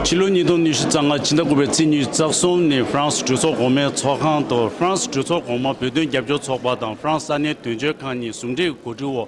ཕྱི་ལོ་ཉིས་སྟོང་ཉི་ཤུ་རྩ་ལྔ་ཕྱི་ཟླ་དགུ་པའི་ཚེས་གཉིས་རྩ་གསུམ་ནས་ཧྥ་རན་སི་གྲོས་ཚོགས་གོང་མའི་ཚོགས་ཁང་དུ་ཧྥ་རན་སི་གྲོས་ཚོགས་གོང་མ་བོད་དོན་རྒྱབ་སྐྱོར་ཚོགས་པ་དང་ཧྥ་རན་སི་ས་གནས་དོན་གཅོད་ཁང་གཉིས་ཟུང་འབྲེལ་གྱི་གོ་སྒྲིག་འོག་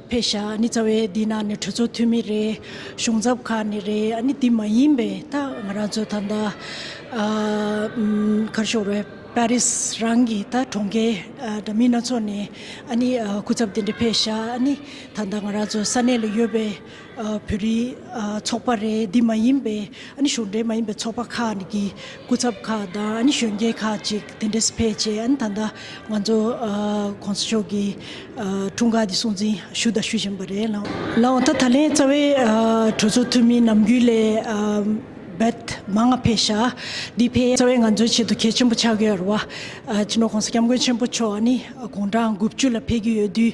ཕེ་ཤ་ནི་རྩ་བའི་འདི་ན་ནི་གྲོས་ཚོགས་འཐུས་མི་རེད་གཞུང་ཚབ་ཁག་ནི་རེད་ནི་དེ་མ་ཡིན་པའི་ད་ང་རང་ཚོ་ད་ལྟ་གར་ཤོར་བའི་པཱ་རིས་རང་གི་ད་གྲོང་ཁྱེར་འདྲ་མིན་སྣ་ཚོགས་ནས་ནི་སྐུ་ཚབ་དེ་འདྲ་ཕེ་ཤ་ནི་ད་ལྟ་ང་རང་ཚོ་ས་གནས་ལ་ཡོད་པའི་བོད་རིགས་ཚོགས་པ་རེད་འདི་མ་ཡིན་པའི་ནི་གཞུང་འབྲེལ་མ་ཡིན་པའི་ཚོགས་པ་ཁག་གི་སྐུ་ཚབ་ཁག་དང་གཞོན་སྐྱེས་ཁག་ཅིག་དེ་འདྲས་ཕེབས་རྗེས་ད་ལྟ་ང་ཚོ་གོང་ས་མཆོག་གི་འཁྲུངས་སྐར་དེ་སྲུང་འཛིན་ཞུ་དང་ཞུ་བཞིན་པ་རེད། ལའོ་ཐ་ད་ལན་རྩ་བའི་གྲོས་ཚོགས་འཐུས་མིའི་ནམ་རྒྱུན་ལས་བེད་མ་ང་ཕེ་ཤ་འདི་ཕེ་རྩ་བའི་ང་ཚོའི་ཆེད་དུ་གལ་ཆེན་པོ་ཆགས་ཀྱི་ཡོད་རེད་བ། ཅི་ནུས་གོང་ས་སྐྱབས་མགོན་ཆེན་པོ་མཆོག་ནི་དགུང་གྲངས་དགུ་བཅུ་ལ་ཕེབས་ཀྱི་ཡོད་དུས།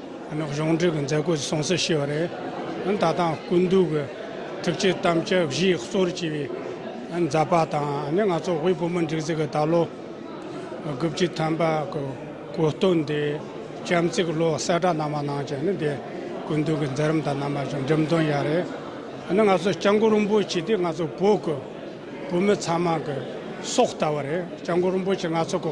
གཞུང་འབྲེལ་གྱི་མཛད་སྒོ་ཞིག་གསུང་བཤད་བྱས་པ་རེད། ད་ལྟའང་སྐུ་མདུན་གྱི་ཐུགས་བསྐྱེད་གཏམ་བཅད་བཞི་གཙོར་གྱིས་པའི་མཛད་པ་དང་ང་ཚོ་དབུས་བོད་མི་སྒྲིག་འཛུགས་ཀྱི་ད་ལོ་དགུ་བཅུ་ཐམ་པ་གྱི་གོ་སྟོན་དེ་གཤམ་གསལ་གྱི་བློ་གསལ་བསྒྲགས་གནང་བ་གནང་བྱས་ནི་དེ་སྐུ་མདུན་གྱི་མཛད་རིམ་དང་རྣམ་པ་ཅུང་འགྲེམས་སྟོན་ཡག་རེད། ང་ཚོ་སྤྱང་མགོ་རིན་པོ་ཆེ་དེ་ང་ཚོ་བོད་ཀྱི་བོད་མི་ཚང་མ་གྱི་སྲོག་ལྟ་བུ་རེད་སྤྱང་མགོ་རིན་པོ་ཆེ་ང་ཚོ་གི་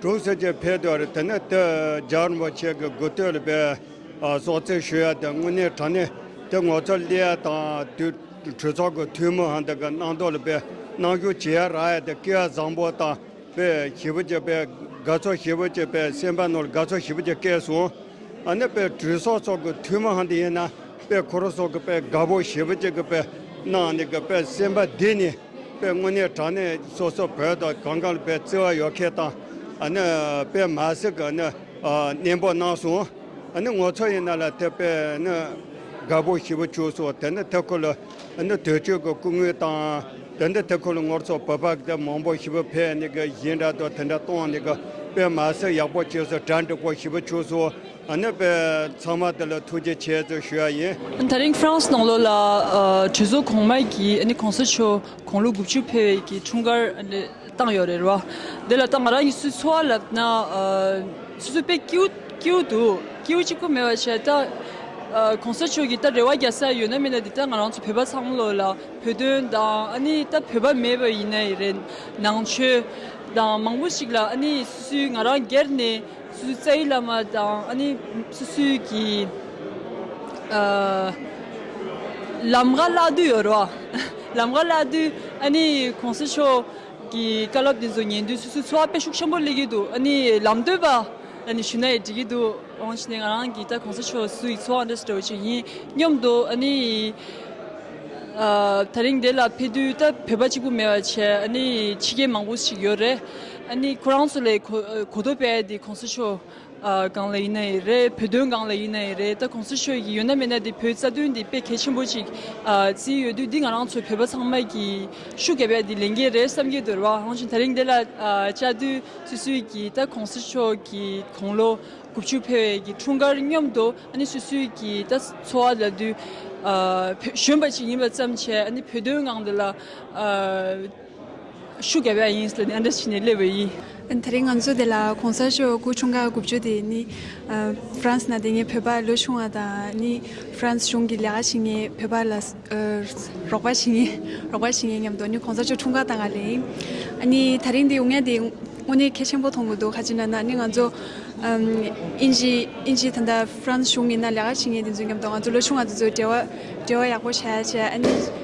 གྲོང་གསེབ་ཀྱི་འཕེལ་རྒྱས་ལ་དེ་ནས་དེ་རྒྱ་རིམ་པ་ཆེ་གེ་སྒུག་སྟོད་ལ་པའི་གསོག་རྩིས་ཞུ་ཡ་དེ་དངོས་གནས་དྲང་གནས་དེ་ངོ་ཚ་ལི་ཡ་དང་དུད་གྲོས་ཚོགས་ཀྱི་འཐུས་མི་ཧན་དེ་གི་སྣང་དོགས་ལ་པའི་སྣང་གཞུག་བྱེད་ཡ་རག་ཡ་དེ་སྐེ་ཡ་བཟང་པོ་དང་པའི་ཞི་བུ་ཀྱི་པའི་དགའ་ཚོར་ཞི་བུ་ཀྱི་པའི་སེམས་པ་ནོར་དགའ་ཚོར་ཞི་བུ་ཀྱི་སྐད་གསུང་ཨ་ནི་པའི་གྲོས་ཚོགས་ཚོགས་ཀྱི་འཐུས་མི་ཧན་དེ་ཡིན་ན་པའི་ཁོ་རོ་སོགས་ཀྱི་པའི་དགའ་པོ་ཞི་བུ་ཀྱི་གི་པའི་སྣང་ནས་གི་པའི་སེམས་པ་འདི་ནི། པའི་དངོས་གནས་དྲང་གནས་སོ་སོ་བོད་དང་གང་གང་ལ་བའི་བརྩེ་བ་ཡོད་མཁན་དང་ཨ་ནི་པའི་མ་ཟེར་གི་ནི་གནས་འབོར་གནང་སོང་ཨ་ནི་ངོ་ཚོ་ཡིན་ན་ལ་དེ་པའི་ནི་དགའ་པོ་ཞི་བུ་བྱུགས་སོང་དེ་ནི་དེ་ཁོ་ལ་ཨ་ནི་དུས་ཆོས་གི་སྐུ་དངུལ་དང་དེ་ནི་དེ་ཁོ་ལ་ངོར་ཚོ་བོད་པ་དེ་མང་པོ་ཞི་བུ་ཕེ་ནི་གི་གཞི་འདྲ་དོ་དེ་འདྲ་གཏོང་ནི་གི་པའི་མ་ཟེར་ཡག་པོ་བྱས་སོང་གྲ་འགྲིག་པོ་ཞི་བུ་བྱུགས་སོང། ཨ་ནུས་པའི་ཚང་མ་དེ་ལ་ཐུགས་རྗེ་ཆེ་ཙོ་ཞུ་ཡ་ཡིན། ད་རིང་ཧྥ་རན་སི་ནང་ལོགས་ལ་གྲོས་ཚོགས་གོང་མ་གིས་གོང་ས་མཆོག་དགུང་ལོ་དགུ་བཅུ་འཕེལ་བའི་གི་འཁྲུངས་སྐར་བཏང་ཡོད་རེད་བ། དེ་ལ་ད་ང་རང་གིས་སུས་འཚོ་བ་ལབ་ན་སུས་འཚོ་དཔེ་སྐྱིའུ་སྐྱིའུ་འདུག་སྐྱིའུ་གཅིག་པོ་མེད་བ་བྱས་ད་གོང་ས་མཆོག་གིས་ད་རེ་བ་རྒྱག་ས་ཡོད་ན་མིན་ན་འདི་ད་ང་རང་ཚོ་བོད་པ་ཚང་མ་ལོགས་ལ་བོད་དོན་དང་ཨ་ནི་ད་བོད་པ་མེད་པ་ཡིན་ན་ཡི་རེད་ནང་ཆོས་དང་མང་པོ་ཞིག་ལ་ཨ་ནི་སུས་སུས་ང་རང་སྒེར་ནས་སུད་སི་རྩ་ཡིག་བླ་མ་དང་ཨ་ནི་སུད་སི་ཀྱི་ལམ་ཁ་བརླག་དུས་ཡོད་རེད། ལམ་ཁ་བརླག་དུས་ཨ་ནི་གོང་ས་མཆོག་གི་བཀའ་སློབ་དེ་ཚོ་ཉན་དུས་སུད་སི་འཚོ་བ་དཔེ་ཤུགས་ཆེན་པོ་སླེབས་ཀྱི་འདུག་ཨ་ནི་ལམ་སྟོན་པ་ཨ་ནི་ཞུ་ན་ཡི་འགྲིག་གི་འདུག་འོང་ཞེས་ནས་ང་རང་གིས་ད་གོང་ས་མཆོག་སུད་སི་ཡི་འཚོ་བ་འདྲ་ཞིག་འགྲོ་བྱེད་ཡིན་སྙམ་འདུག་ཨ་ནི་ད་རིང་དེ་ལ་ཕེབས་དུས་ད་བོད་པ་གཅིག་པུ་མེད་པ་བྱས་ཨ་ནི་ཕྱི་རྒྱལ་མང་པོ་ཞིག་ཡོད་རེད། ནི་ཁོ་རང་ཚོ་ལས་གོ་ཐོབ་པའི་དེ་གོང་ས་ཆོས་གང་ལ་ཡིན་ན་ཡི་རེད་བོད་དོན་གང་ལ་ཡིན་ན་ཡི་རེད་ད་གོང་ས་ཆོས་ཀྱི་ཡོད་ན་མེད་ན་དེ་བོད་རྩ་དོན་དེ་དཔེ་གལ་ཆེན་པོ་ཅིག་བརྩིས་ཡོད་དུས་འདི་ང་རང་ཚོ་བོད་པ་ཚང་མ་གི་ཤུགས་གལ་པའི་དེ་ལས་འགན་རེད་བསམ་གྱི་འདུག་རེད་བ་འོན་ཀྱང་ད་རིང་དེ་ལ་བཅར་དུས་སུད་སུད་ཀྱི་ད་གོང་ས་ཆོས་ཀྱི་དགུང་ལོ་དགུ་བཅུ་འཕེལ་བའི་གི་འཁྲུངས་སྐར་སྙོམས་དུ་ནི་སུད་སུད་ཀྱི་ད་འཚོ་བ་ལ་དུས་གཞོན་པ་ཅིག་ཡིན་པ་ཙམ་བྱས་ནི་བོད་དོན་གང་དེ་ལ། ཤུགས་རྒྱབ་ཡག་ཡིན་ཟེར་ནས་ཨ་འདྲ་བྱས་ནས་སླེབས་བས་ཡིན། ད་རེས་ང་ཚོ་དེ་ལ་གོང་ས་མཆོག་སྐུ་ཆུང་ག་དགུ་བཅུ་དེ་ནི་ཧྥ་རན་སི་ན་དེ་ངས་བོད་པ་ལོས་ཆུང་བ་དང་ནི་ཧྥ་རན་སི་གཞུང་གི་ལས་ཀ་བྱེད་ངེས་བོད་པ་ལ་རོགས་པ་བྱེད་ངེས་རོགས་པ་བྱེད་ངེས་སྙམ་དུ་ནི་གོང་ས་མཆོག་ཆུང་ག་དང་ག་ལེན་ཨ་ནི་ད་རེས་འདི་འུ་ངས་དེ་དངོས་གནས་གལ་ཆེན་པོ་མཐོང་གི་འདུག་ཧ་ཅི་ན་ན་ནི་ང་ཚོ་ཨིན་ཇི་ཨིན་ཇི་ད་ལྟ་ཧྥ་རན་སི་གཞུང་གི་ནང་ལས་ཀ་བྱེད་ངེས་དེ་ཚོས་སྙམ་དུ་ང་ཚོ་ལོས་ཆུང་བ་དེ་ཚོས་འབྲེལ་བ་འབྲེལ་བ་ཡག་པོ་བྱས་རྗེས་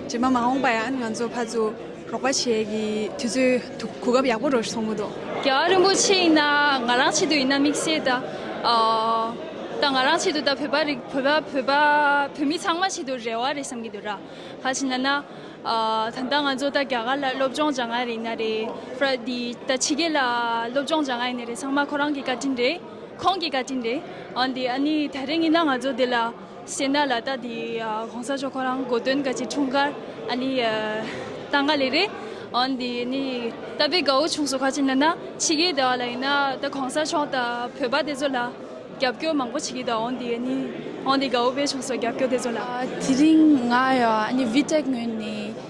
རྗེས་མ་མ་འོངས་པར་ཡང་ང་ཚོ་ཕར་ཚུར་རོགས་པ་བྱེད་ཀྱི་དུས་ཚོད་གོ་སྐབས་ཡག་པོ་རེ་བཟུང་གི་འདུག། རྒྱ་གར་རིན་པོ་ཆེ་ཡིན་ན་ང་རང་ཆེད་དུ་ཡིན་ན་དམིགས་བསལ་དང། དང་ང་རང་ཆེད་དུ་དང་བོད་པ་རིགས་བོད་པ་བོད་པ་བོད་མི་ཚང་མ་ཆེད་དུ་རེ་བ་རེ་བསམ་གྱི་འདུག་ར་ག་ཞིག་ན་ན། ད་ལྟ་ང་ཚོ་ད་རྒྱ་གར་ལ་སློབ་སྦྱོང་བྱ་ང་རེད་ན་རེ་ཕར་འདི་ད་ཕྱི་རྒྱལ་ལ་སློབ་སྦྱོང་བྱ་ང་ཡིན་ན་རེ་ཚང་མ་ཁོ་རང་གི་བཀའ་དྲིན་རེད་ཁོང་གི་བཀའ་དྲིན་རེད་འོན་ཏེ་ཨ་ནི་ད་རེ་ངེས་ན་ང་ཚོ་འདི་ལ། ཤེས་ན་ལ་ད་དེ་གོང་ས་མཆོག་ཁོ་རང་གོ་སྟོན་ག་ཅིག་འཁྲུངས་སྐར་ཨ་ནི་ད་འགའ་ལེ་རེད། འོན་ཏེ་ནི་ད་པའི་གའུ་ཆུང་སོགས་ག་ཅིག་ན་ན་ཕྱི་རྒྱལ་དེ་བ་ལ་ཡིན་ན་ད་གོང་ས་མཆོག་ད་བོད་པ་དེ་ཚོ་ལ་རྒྱབ་སྐྱོར་མང་པོ་བྱེད་ཀྱི་ད་འོན་ཏེ་ནི་འོན་ཏེ་གའུ་པའི་ཆུང་སོགས་རྒྱབ་སྐྱོར་དེ་ཚོ་ལ། དེ་རིང་ང་ཡང་ཨ་ནི་བྷི་ཏེག་ངོས་ནས།